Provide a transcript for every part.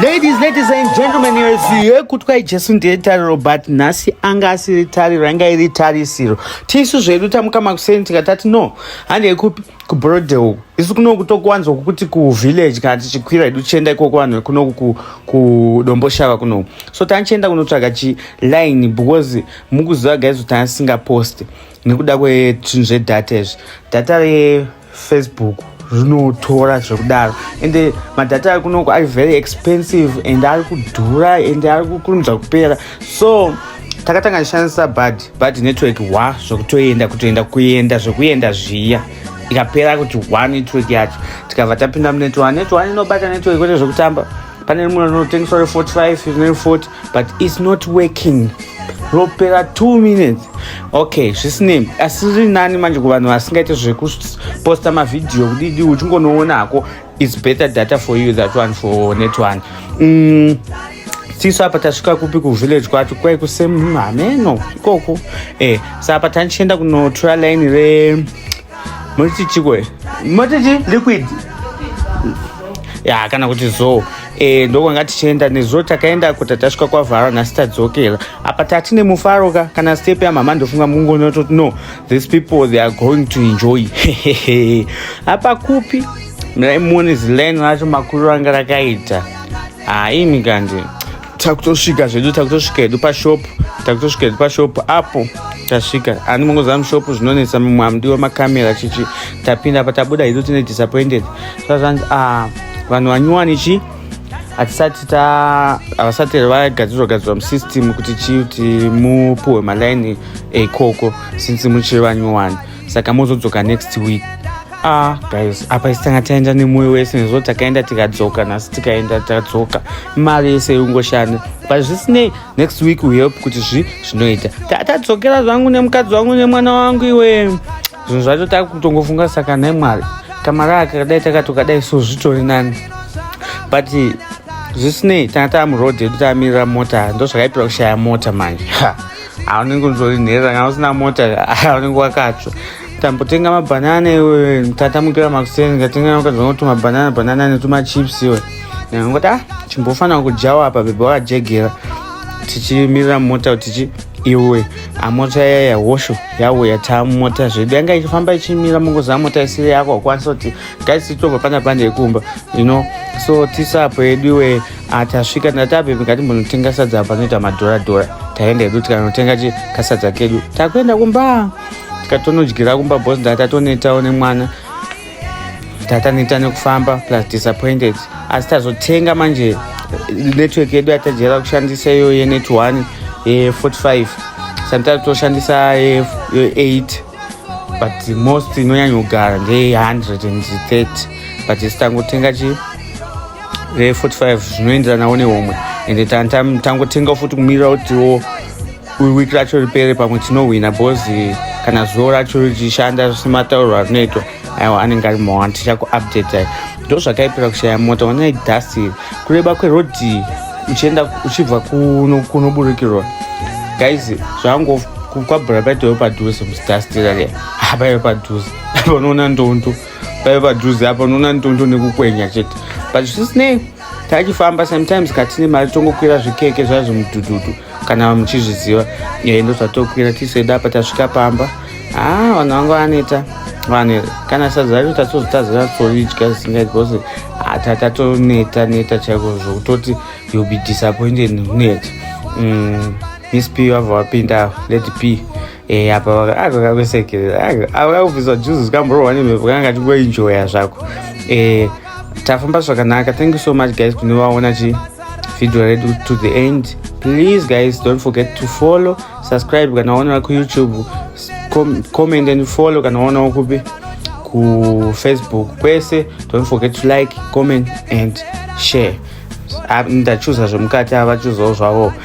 Ladies, ladies and gentlemen, here is here. Kutwai Jesu ndiye tariro but nhasi anga asiri tariro anga iri tarisiro. Tisu zvedu tamuka makuseni tikatati no. Hande kupi ku Brode uku. Isu kuno kutokuwanzwa kuti ku village kana tichikwira edu chenda ikoko vanhu kuno ku ku Domboshava kuno. So tanchenda kunotsvaga chi line because mukuziva guys kuti asinga post. nekuda kwezvinhu zvedata izvi data refacebook rinotora zvekudaro ende madhata ari kunoko ari very expensive and ari kudhura and ari kukurumidza kupera so takatanga tishandisa bad bad network wa zvekutoenda kutoenda kuenda zvekuenda zviya ikapera kuti wa network yacho tikabva tapinda munet one net one inobata network kwete zvekutamba pane rimwe rinotengeswa re 45 ne 40 but it's not working ropera two minutes okay zvisinei asi riri nani manje kuvanhu vasingaite zvekuposta mavhidhiyo kudidi uchingonoona hako its better data for you that one for net one mm. tisu apa tasvika kupi kuvillage kwacho kwai kusemhameno ikoko e eh, saapa tanichienda kunotora line re Moti chikwe. Moti chi liquid. Ya kana kuti zo. Eh ndokwanga tichienda nezo takaenda kuti tasvika kwa Vara na Star Dzokela. Apa tati ne mufaro ka kana step ya mama ndofunga mungu no to no. These people they are going to enjoy. Apa kupi? Mira imuone zileni racho makuru anga rakaita. Ah imi kanje. takutosvika zvedu takutosvika hedu pashop takutosvika hedu pashop apo tasvika ani mungoziva mushop zvinonetsa mumwe amudiwa makamera chichi tapinda apa tabuda hedu tine disappointed sazvanzi ah, vanhu vanyuwani chii hatisati ta havasati here vagadzirwa gadzirwa musystem kuti chii kuti mupuhwe malaini ekoko since muchiri vanyuwani saka mozodzoka next week ah guys apa isi tanga taenda nemoyo wese nezvo takaenda tikadzoka nhasi tikaenda tadzoka mari yese yongoshanda but zvisinei next week we help kuti zvi zvinoita tatadzokera zvangu nemukadzi wangu nemwana wangu iwe zvinhu zvacho takutongofunga saka nhai mwari kamara akadai takatokadai so zvitori nani but zvisinei tanga tava muroad yedu tamirira mota ndo zvakaipira kushaya mota manje haunenge unzori nherera kana usina mota haunenge wakatsva tambotenga mabhanana iwe tata mukira makuseni ngatenga wakadza kuti mabhanana bhanana netumachips iwe ngoti a ah, chimbofanira kudyawo apa bhebha wakajegera tichimirira mota tichi iwe amota yaya yahosho yauya tamota zvedu yanga ichifamba ichimira mungoziva mota isiri yako akwanisa kuti gaisitobva pana pande yekumba you know so tisapo yedu iwe Ah, tasvika ndatabebe ngatimbonotengesa sadza panoita madhora dhora taenda hedu tikanotenga chi kasadza kedu takuenda kumba tikatonodyira kumba bos ndatatonetawo nemwana tataneta nekufamba plus disappointed asi tazotenga manje network yedu yatajaira kushandisa iyo yenet one ye45 sometimes toshandisa ye8 but most inonyanyogara ndeye 130 but isi tangotenga chii 45 zvinoenderanawo nehomwe ende tangotenga futi kumirira kutiwo week racho ripere pamwe tinohwina bcause eh, kana zuvo racho richishanda sematauriro arinoitwa aiwa anenge ari mawa tichakuupdate ai ndo zvakaipira kushaya mota wanai dust iri kureba kwerodhi uchienda uchibva kunoburikirwa guys zvango kwabhura paitoyo padhuze mudust irariya hapaiyo padhuze apa unoona ndondu paive padhuze apa unoona nitondo nekukwenya chete but zvisinei tachifamba sometimes katine mari tongokwira zvikeke zvaizvo mudhudhudhu kana muchizviziva eh, ndo zvatokwira tiseda apa tasvika pamba haa ah, vanhu vanga vaneta vanhu kana sadza racho tatozotazira toridya zvisingai because hata tatoneta neta chaiko zvokutoti youll be disappointed net mm, miss p vava vapinda let p Eh, apa vakakusekerera avakakubvisa juzi zvikamborwa nemhepo kanga kati kuenjoya zvako eh, tafamba zvakanaka thank you so much guys kune vaona chi video redu to the end please guys don't forget to follow subscribe kana waonera kuyoutube com comment and follow kana waonawo kupi kufacebook kwese don't forget to like comment and share ndachuza zvemukati avachuzawo zvavo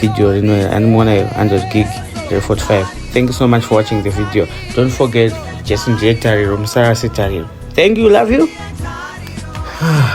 video rino animuona iyo 100 gig re 45 thank you so much for watching the video don't forget jesu ndiye tariro musarase tariro thank you love you